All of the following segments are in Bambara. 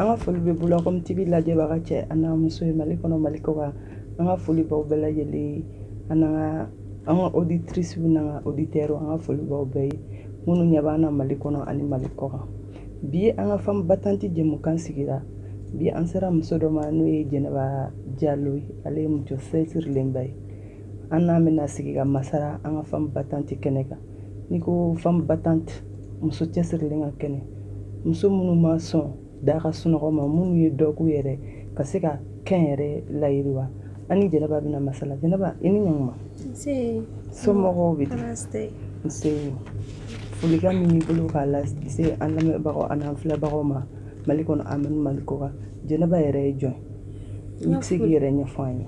an ka foli bɛ bula kɔmi tibi lajɛbaga cɛ an'a muso ye mali kɔnɔ mali kɔ kan an ka foli baw bɛɛ lajɛlen an n'an ka an ka oditirisiw n'an ka oditɛriw an ka foli baw bɛɛ ye minnu ɲɛ b'an na mali kɔnɔ ani mali kɔ kan bi an ka femme battante jɛmukan sigira bi an sera muso dɔ ma n'o ye jɛnɛba jalo ye ale ye muso cɛsirilenba ye an n'a bɛna sigi ka masala an ka femme battante kɛnɛ kan n'i ko femme battante muso cɛsirilen ka kɛnɛ muso minnu ma sɔn da ka sunɔgɔ ma minnu ye dɔ k'u yɛrɛ ka se ka kɛnyɛrɛ layiriwa an ni jɛnɛba bɛna masala jɛnɛba i ni ɲankuma somɔgɔw bɛ di nse folikan min b'i bolo k'a lase an lamɛnbagaw ani an filɛbagaw ma mali kɔnɔ ani mali kɔ kan jɛnɛba yɛrɛ ye jɔn i bɛ se k'i yɛrɛ ɲɛfɔ an ye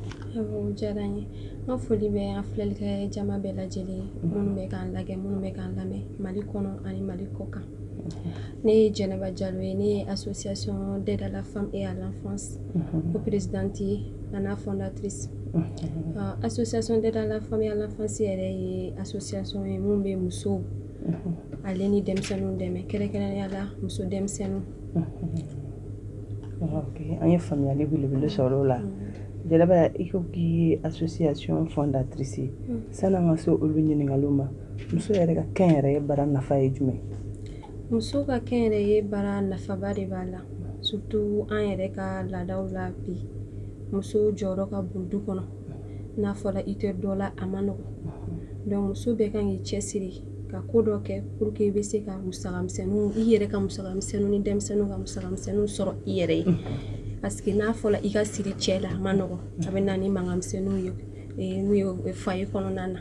n ka foli bɛ an filɛlikɛ jama bɛɛ lajɛlen minnu bɛ k'an lajɛ minnu bɛ k'an lamɛn mali kɔnɔ ani mali kɔ kan ne ye jɛnɛba jalo ye ne ye association d'aide à la femme et à l'enfance o présidente ye an'a fondatrice association d'aide à la femme et à l'enfance yɛrɛ ye association ye min bɛ musow ale ni denmisɛnninw dɛmɛ kɛrɛnkɛrɛnya la muso denmisɛnninw ok an ye faamuyali belebele sɔrɔ o la jɛnɛba i ko k'i ye association fondatrice sani an ka se olu ɲininkaliw ma muso yɛrɛ ka kɛnyɛrɛye baara nafa ye jumɛn muso ka kɛnyɛrɛye baara nafaba de b'a la surtout an yɛrɛ ka laadaw la bi muso jɔyɔrɔ ka bon du kɔnɔ n'a fɔra i tɛ dɔ la a man nɔgɔ donc muso bɛɛ kan k'i cɛsiri ka ko dɔ kɛ pour que i bɛ se ka musakamisɛnninw i yɛrɛ ka musakamisɛnninw ni denmisɛnninw ka musakamisɛnninw sɔrɔ i yɛrɛ ye parce que n'a fɔra i ka siri cɛ la a man nɔgɔ a bɛ na ni mankanmisɛnninw ye eh, n'u ye foyer kɔnɔna na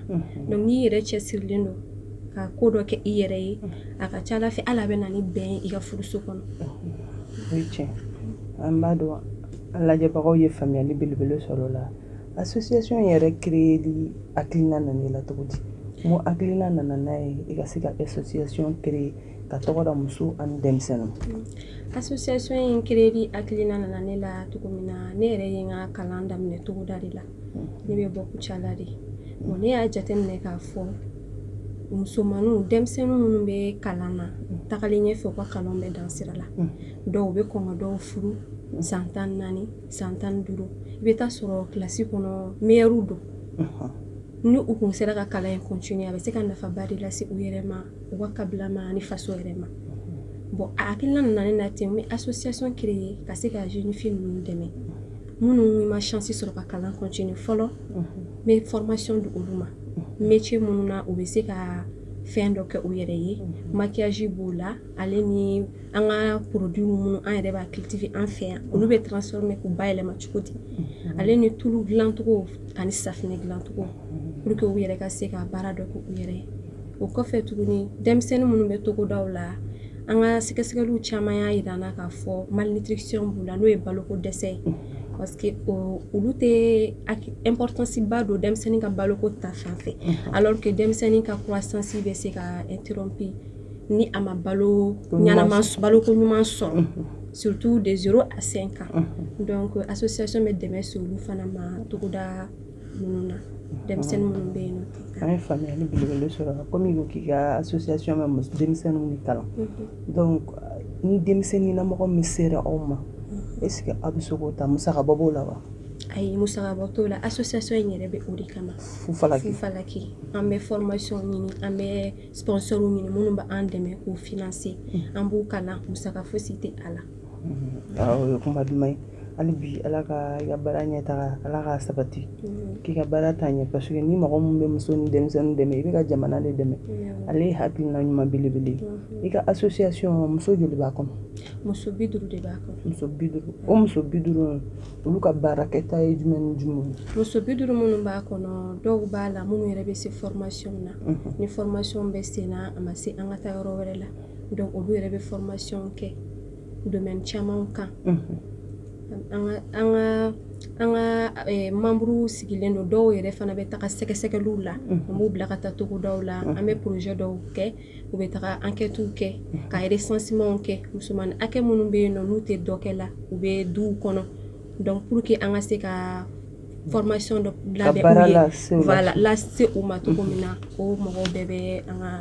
donc n'i yɛrɛ cɛsirilen don ka ko dɔ kɛ i yɛrɛ ye a ka ca ala fɛ ala bɛ na ni bɛn ye i ka furuso kɔnɔ o ye tiɲɛ an b'a dɔn an lajɛbagaw ye faamuyali belebele sɔrɔ o la association yɛrɛ créeli hakilina nana i la cogo di mun hakilina nana n'a ye i ka se ka association créer ka tɔgɔ da muso ani denmisɛnninw association in créeli hakilina nana ne la cogo min na ne yɛrɛ ye n ka kalan daminɛ togoda de la hmm. ne bɛ bɔ kucala de bon ne y'a jateminɛ k'a fɔ musomaninw denmisɛnninw minnu bɛ kalan na hmm. tagalen ɲɛfɛ u ka kalan bɛ dan sira la hmm. dɔw bɛ kɔn ka dɔw furu san tan naani san tan duuru i bɛ taa sɔrɔ kilasi kɔnɔ meilleurs don ni u tun sera ka kalan in continuer a bɛ se ka nafaba de lase u yɛrɛ ma u ka kabila ma ani faso yɛrɛ ma bon a hakilila nana ne na ten n bɛ association créer ka se ka jeune fille ninnu dɛmɛ minnu ma chance sɔrɔ ka kalan continuer fɔlɔ n bɛ formation di olu ma métier minnu na u bɛ se ka fɛn dɔ kɛ u yɛrɛ ye masi b'o la ale ni an ka produit minnu an yɛrɛ b'a cultiver an fɛ yan olu bɛ transformer k'u ba yɛlɛma cogo di ale ni tulu dilancogo ani safinɛ dilancogo pour que u yɛrɛ ka se ka baara dɔ kɛ u yɛrɛ ye o kɔfɛ tuguni denmisɛnnin minnu bɛ togodaw la an ka sɛgɛsɛgɛliw caman y'a jira an na k'a fɔ malnutrition b'u la n'o ye baloko dɛsɛ ye parce que olu tɛ importance ba don denmisɛnnin ka baloko ta fan fɛ alors que denmisɛnnin ka croissance bɛ se ka interrompre ni a ma balo baloko ɲuman sɔrɔ surtout de zéro à cinq ans donc association bɛ dɛmɛ se olu fana ma togoda ninnu na denmisɛnnin minnu bɛ yen nɔ an ye faamuyali belebele sɔrɔ komi i ko k'i ka association bɛ muso denmisɛnninw de kalan donc ni denmisɛnnin na mɔgɔ min sera aw ma est ce que aw bɛ se k'o ta musakabɔ b'o la wa ayi musakabɔ t'o la association in yɛrɛ bɛ o de kama fufalaki fufalaki an bɛ formation ɲini an bɛ sponsor ɲini minnu bɛ an dɛmɛ k'u financer mm. an b'u kalan musaka fosi tɛ a la mm-hmm. ah, o ye kuma duman ye hali bi ala ka i ka baara ɲɛ taga ala k'a sabati mm-hmm. k'i ka baara taa ɲɛ parce que ni mɔgɔ min bɛ muso ni denmisɛnnin dɛmɛ i bɛ ka jamana de dɛmɛ mm-hmm. ale ye hakilina ɲuman belebele i ka association muso joli b'a kɔnɔ muso bi duuru de b'a kɔnɔ muso bi duuru o muso bi duuru olu ka baarakɛta ye jumɛn ni jumɛn ye muso bi duuru minnu b'a kɔnɔ dɔw b'a la minnu yɛrɛ bɛ se fɔrmasiyɔn na mhm. ni fɔrmasiyɔn bɛ sen na a ma se an ka taa yɔrɔ wɛrɛ la donc olu yɛrɛ bɛ fɔrmasiyɔn kɛ domɛni caman kan mhm. an ka an ka an ka eh, manburuw sigilen don dɔw yɛrɛ fana bɛ taga sɛgɛsɛgɛliw la mhm. an b'u bila ka taa togodaw la an bɛ porozɛ dɔw kɛ u bɛ taga ankɛtiw kɛ ka resansimanw kɛ musoman hakɛ minnu bɛ yen nɔ n'u tɛ dɔ kɛ la u bɛ duw kɔnɔ donc pour que an ka se ka formation dɔ labɛn u ye voilà lase u ma cogo min na o mɔgɔw bɛɛ bɛ an ka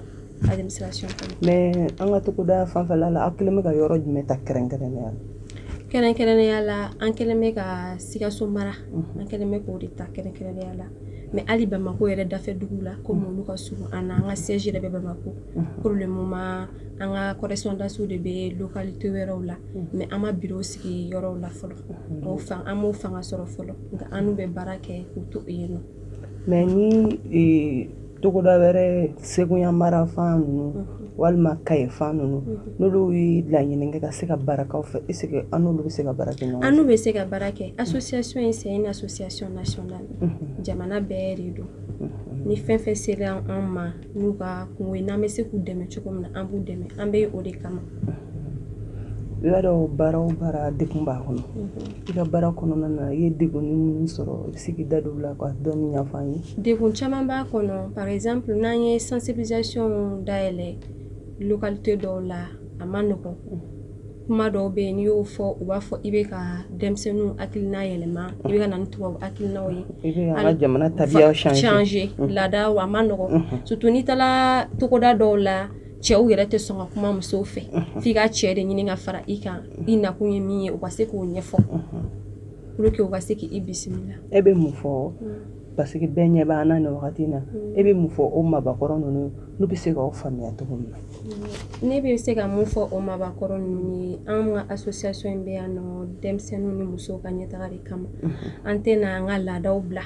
administration kɔnɔ mais an ka togoda fanfɛla la aw kɛlen bɛ ka yɔrɔ jumɛn ta kɛrɛnkɛrɛnnenya la kɛrɛnkɛrɛnnenya la an kɛlen bɛ ka sikaso mara an kɛlen bɛ k'o de ta kɛrɛnkɛrɛnnenya la mɛ hali bamakɔ yɛrɛ dafɛ dugu la komi olu ka surun an na an ka siège yɛrɛ bɛ bamakɔ pour le moment an ka correspondants de bɛ lokalite wɛrɛw la mɛ an ma biro sigi yɔrɔw la fɔlɔ an m'o fanga sɔrɔ fɔlɔ nka an n'u bɛ baara kɛ k'u to yen nɔ mɛ ni togoda wɛrɛ seguya mara fan ninnu mhm. walima kaye fan ninnu mhm. n'olu ye laɲini kɛ ka se ka baara k'aw fɛ est ce que an n'olu bɛ se ka baara kɛ ɲɔgɔn fɛ an n'u bɛ se ka baara kɛ association in c'est une association nationale mhm. jamana bɛɛ de don ni fɛn fɛn sera an ma n'u ka kunko ye n'an bɛ se k'u dɛmɛ cogo min na an b'u dɛmɛ an bɛ o de kama i b'a dɔn baara o baara degun b'a kɔnɔ i ka baara kɔnɔna na i ye degun minnu sɔrɔ i bɛ se k'i da don o la ka dɔɔni ɲɛfɔ an ye degun caman b'a kɔnɔ par exemple n'an ye sensibilisation dayɛlɛ localité dɔw la a ma nɔgɔn kuma dɔw bɛ yen n'i y'o fɔ u b'a fɔ i bɛ ka denmisɛnninw hakilina yɛlɛma i bɛ ka na ni tubabu hakilinaw ye i bɛ an ka jamana tabiyaw changer laadaw a ma nɔgɔn surtout n'i taara togoda dɔw la cɛw yɛrɛ tɛ sɔn ka kuma musow fɛ f'i ka cɛ de ɲini ka fara i kan i nakun ye min ye u ka se k'o ɲɛfɔ pour que u ka se k'i bisimila e bɛ mun fɔ parce que bɛɛ ɲɛ b'an na nin wagati in na e bɛ mun fɔ o mabakɔrɔ ninnu n'u bɛ se k'aw faamuya cogo min na ne bɛ se ka mun fɔ o mabakɔrɔ ninnu ye an ka association in bɛ yan nɔ denmisɛnninw ni musow ka ɲɛtaga de kama an tɛna an ka laadaw bila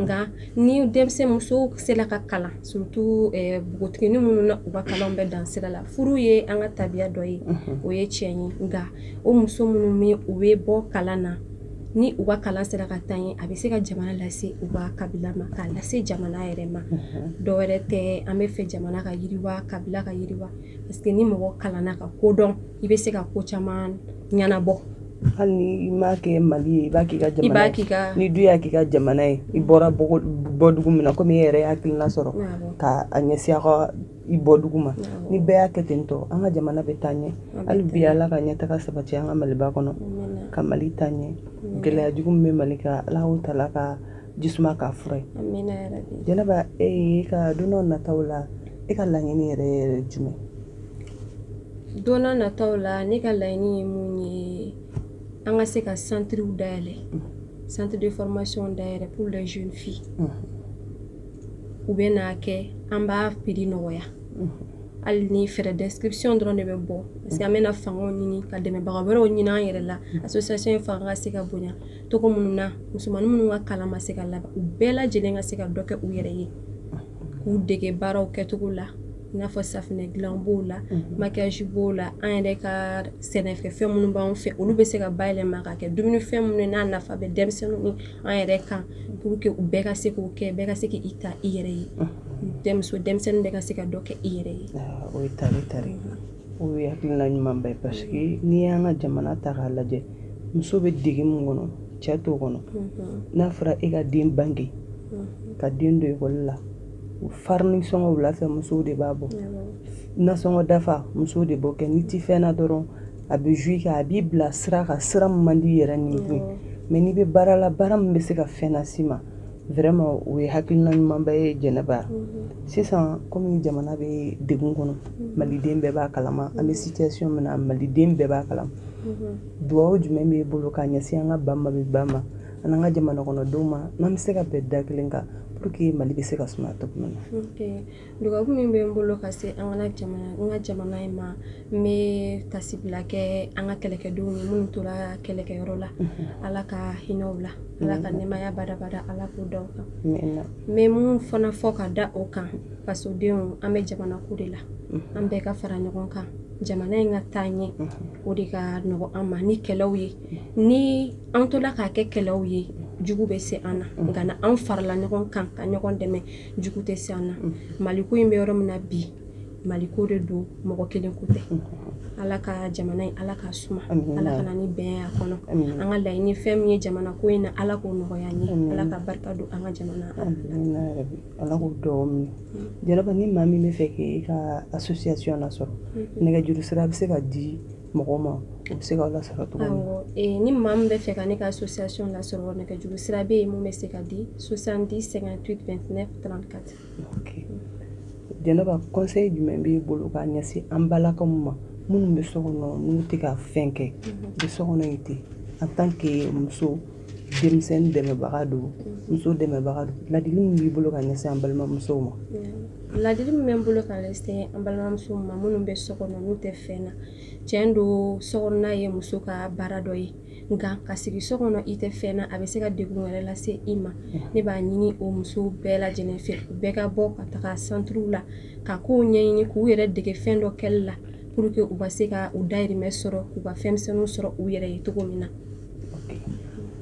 nka ni denmisɛn muso sela ka kalan surtout eh, npogotigini minnu na u ka kalanw bɛ dan sira la furu ye an ka tabiya dɔ ye o ye tiɲɛ ye nka o muso minnu bɛ u bɛ bɔ kalan na ni u ka kalan sera ka taa ɲɛ a bɛ se ka jamana lase u ka kabila ma k'a lase jamana yɛrɛ ma dɔ wɛrɛ tɛ an b'a fɛ jamana ka yiriwa kabila ka yiriwa parce que ni mɔgɔ kalanna ka ko dɔn i bɛ se ka ko caman ɲɛnabɔ Hali ni i m'a kɛ Mali ye i b'a k'i ka jamana ye. I b'a k'i ka. N'i dun y'a k'i ka jamana ye i bɔra bɔdugu min na komi e yɛrɛ ye hakilina sɔrɔ k'a ɲɛsin aw ka i bɔdugu ma. Ni bɛɛ y'a kɛ ten tɔ an ka jamana bɛ taa ɲɛ. Hali bi Ala ka ɲɛtaga sabati an ka Maliba kɔnɔ ka Mali taa ɲɛ. Gɛlɛya jugu min bɛ Mali kan Ala k'o tala ka ji suma k'a fura ye. Jɛnɛba e ka don na nataw la e ka laɲini yɛrɛ yɛrɛ ye jumɛn ye? don na nataw la ne ka laɲini ye mun ye an ka se ka centrew dayɛlɛ centre de formation dayɛlɛ pour les jeunes filles u bɛ n'a kɛ an b'a prix nɔgɔya hali ni frais d'inscription dɔrɔn de bɛ bɔ parce que an bɛna fangaw ɲini ka dɛmɛbaga wɛrɛw ɲini an yɛrɛ la association in fanga ka se ka bonya togo minnu na musomannin minnu ka kalan ma se ka laban u bɛɛ lajɛlen ka se ka dɔ kɛ u yɛrɛ ye k'u dege baaraw kɛcogo la i n'a fɔ safinɛ dilan b'o la mhm. maquillage b'o la an yɛrɛ ka sɛnɛfɛn minnu b'an fɛ olu bɛ se ka bayɛlɛma ka kɛ dumunifɛn minnu n'a nafa bɛ denmisɛnninw ni an yɛrɛ kan pour que u bɛɛ ka se k'o kɛ bɛɛ ka se k'i ta i yɛrɛ ye mhm. denmuso denmisɛnnin bɛɛ ka se ka dɔ kɛ i yɛrɛ ye ah, o ye taare taare o ye hakilina ɲumanba ye parce que mhm. n'i y'an ka jamana ta k'a lajɛ muso bɛ degun min kɔnɔ cɛ t'o kɔnɔ n'a fɔra e ka den bange ka den don ekɔli la farini sɔngɔ wula fɛ musow de b'a bɔ nasɔngɔ dafa musow de b'o kɛ n'i ti fɛn na dɔrɔn a bɛ jouer kɛ a b'i bila sira kan sira min man di yɛrɛ nin kun mais n'i bɛ baara la baara min bɛ se ka fɛn las'i ma vraiment o ye hakilina ɲumanba ye jɛnɛba sisan kɔmi jamana bɛ degun kɔnɔ maliden bɛɛ b'a kalama an bɛ situation min na maliden bɛɛ b'a kalama dugawu jumɛn b'i bolo k'a ɲɛsin an ka ba maliba ma an n'an ka jamana kɔnɔdenw ma n'an bɛ se ka bɛn da kelen kan pour que mali bɛ se ka suma cogo min na dugawu min bɛ n bolo ka se an ka jamana in ma n bɛ tasibila kɛ an ka kɛlɛkɛdenw ye minnu tora kɛlɛkɛyɔrɔ la ala ka hinɛ u la ala ka nɛmaya badabada ala k'o da u kan n bɛ mun fana fɔ ka da o kan fasodenw an bɛ jamana ko de la an bɛɛ ka fara ɲɔgɔn kan jamana in ka taa ɲɛ o de ka nɔgɔ an ma ni kɛlɛw ye ni an tola k'a kɛ kɛlɛw ye jugu bɛ se an na mm. nka n'an farala ɲɔgɔn kan ka ɲɔgɔn dɛmɛ jugu tɛ se an na mm. maliko in bɛ yɔrɔ min na bi maliko de don mɔgɔ kelen ko tɛ mm. ala ka jamana in ala k'a suma ala ka na ni bɛn y'a kɔnɔ an ka laɲini fɛn min ye jamana ko in na ala k'o nɔgɔya an ye ala ka barika don an ka jamana ala k'o dugawu minɛ jɛnɛba ni maa min bɛ fɛ k'e ka association lasɔrɔ nɛgɛjuru sira bɛ se ka di mɔgɔ ma o bɛ se k'aw lasɔrɔ cogo min ni maa min bɛ fɛ ka ne ka association lasɔrɔ nɛgɛjuru sira bɛ yen mun bɛ se ka di 70 58 29 34 jɛnɛba conseil jumɛn b'e bolo k'a ɲɛsin an balakaw ma minnu bɛ so kɔnɔ n'u tɛ ka fɛn kɛ u bɛ so kɔnɔ yen ten en tant que muso denmisɛnnin dɛmɛbaga don muso dɛmɛbaga don ladili min b'i bolo ka ɲɛsin an balimamusow ma ladili min bɛ n bolo ka ɲɛsin an balimamusow ma minnu bɛ so kɔnɔ n'u tɛ fɛn na tiɲɛ don sokɔnɔna ye muso ka baara dɔ ye nka ka sigi so kɔnɔ i tɛ fɛn na a bɛ se ka degun wɛrɛ lase i ma ne b'a ɲini o musow bɛɛ lajɛlen fɛ u bɛɛ ka bɔ ka taga santuruw la ka kow ɲɛɲini k'u yɛrɛ dege fɛn dɔ kɛli la pour que u ka se ka u dayirimɛ sɔrɔ k'u ka fɛnmisɛnninw sɔrɔ u yɛrɛ ye cogo min na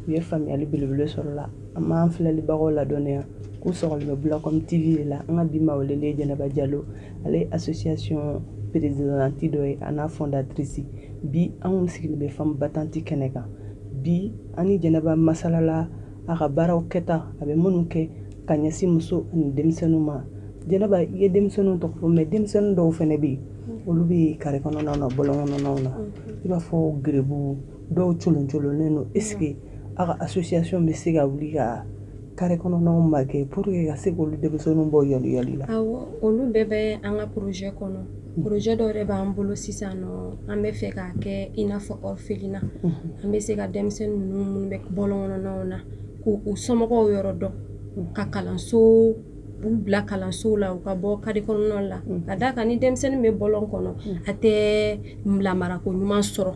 u ye faamuyali belebele sɔrɔ la an b'an filɛlibagaw ladɔnniya k'u sɔgɔlen bɛ bulacom tv de la an ka bi maa welelen ye jɛnɛba jalo ale ye association présidente dɔ ye a n'a fondatrice bi an kun sigilen bɛ femme battante kɛnɛ kan bi an ni jɛnɛba masalala a ka baaraw kɛta a bɛ minnu kɛ ka ɲɛsin muso ani denmisɛnninw ma jɛnɛba i ye denmisɛnninw tɔgɔ fɔ mais denmisɛnnin dɔw fana bɛ yen olu bɛ kare kɔnɔnaw na bɔlɔn kɔnɔnaw na i b'a fɔ garibuw dɔw coloncolonnen don est ce que aw ka association bɛ se ka wuli ka kare kɔnɔnaw ma kɛ pour que ka se k'olu denmisɛnninw bɔ yɔliyɔli la awɔ olu bɛɛ bɛ an ka projet kɔnɔ hmm. projet dɔ yɛrɛ b'an bolo sisan nɔ an bɛ fɛ k'a kɛ i n'a fɔ orphelinat hmm. an bɛ se ka denmisɛnnin ninnu minnu bɛ bɔlɔn kɔnɔnaw na k'u somɔgɔw yɔrɔ dɔn hmm. ka kalanso u bila kalansow la u ka bɔ kare kɔnɔnaw la ka d'a kan ni denmisɛnnin bɛ bɔlɔn kɔnɔ a tɛ lamarako ɲuman sɔrɔ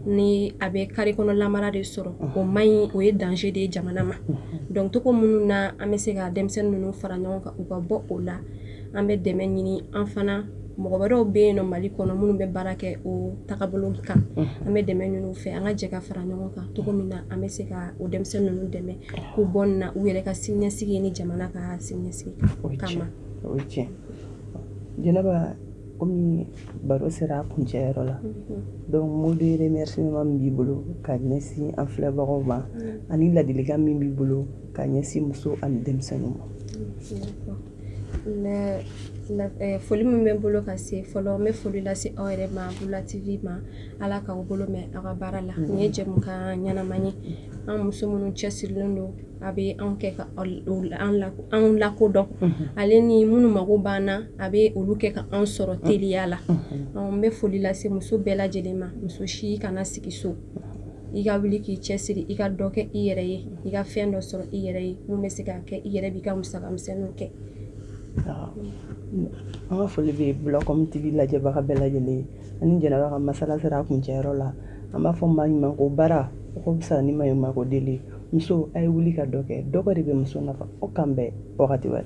ni a bɛ kare kɔnɔ lamara de sɔrɔ o man ɲi o ye danger de ye jamana ma donc cogo minnu na an bɛ se ka denmisɛnnin ninnu fara ɲɔgɔn kan u ka bɔ o la an bɛ dɛmɛ ɲini an fana mɔgɔ wɛrɛw bɛ yen nɔ mali kɔnɔ minnu bɛ baara kɛ o tagabolo kan an bɛ dɛmɛ ɲini u fɛ an ka jɛ ka fara ɲɔgɔn kan cogo min na an bɛ se ka o denmisɛnnin ninnu dɛmɛ k'u bɔ nin na u yɛrɛ ka siniɲɛsigi ni jamana ka siniɲɛsigi kama komi baro sera a kuncɛyɔrɔ la mm-hmm. donc mot de remerciement min b'i bolo ka ɲɛsin an filɛbagaw ma mm-hmm. ani ladilikan min b'i bolo ka ɲɛsin muso ani denmisɛnninw ma mm-hmm. eh, foli min bɛ n bolo ka se fɔlɔ n bɛ foli lase aw yɛrɛ ma bula tv ma ala k'aw bolo mɛn aw ka baara la nin ye jɛmukan ɲɛnama ye an muso minnu cɛsirilen don a bɛ anw kɛ ka anw lakodɔn ale ni minnu mago b'an na a bɛ olu kɛ ka anw sɔrɔ teliya la n bɛ foli lase muso bɛɛ lajɛlen ma muso si kana sigi so i ka wuli k'i cɛ siri i ka dɔ kɛ i yɛrɛ ye i ka fɛn dɔ sɔrɔ i yɛrɛ ye min bɛ se k'a kɛ i yɛrɛ b'i ka musakamisɛnninw kɛ an ka foli bɛ bulacom tv lajɛbaga bɛɛ lajɛlen ye ani jɛnɛba ka masala sera a kuncɛyɔrɔ la an b'a fɔ maɲumanko baara o ka fisa ni maɲumanko deli muso a ye wuli ka dɔ kɛ dɔ kɛ de bɛ muso nafa o k'an bɛn wagati wɛrɛ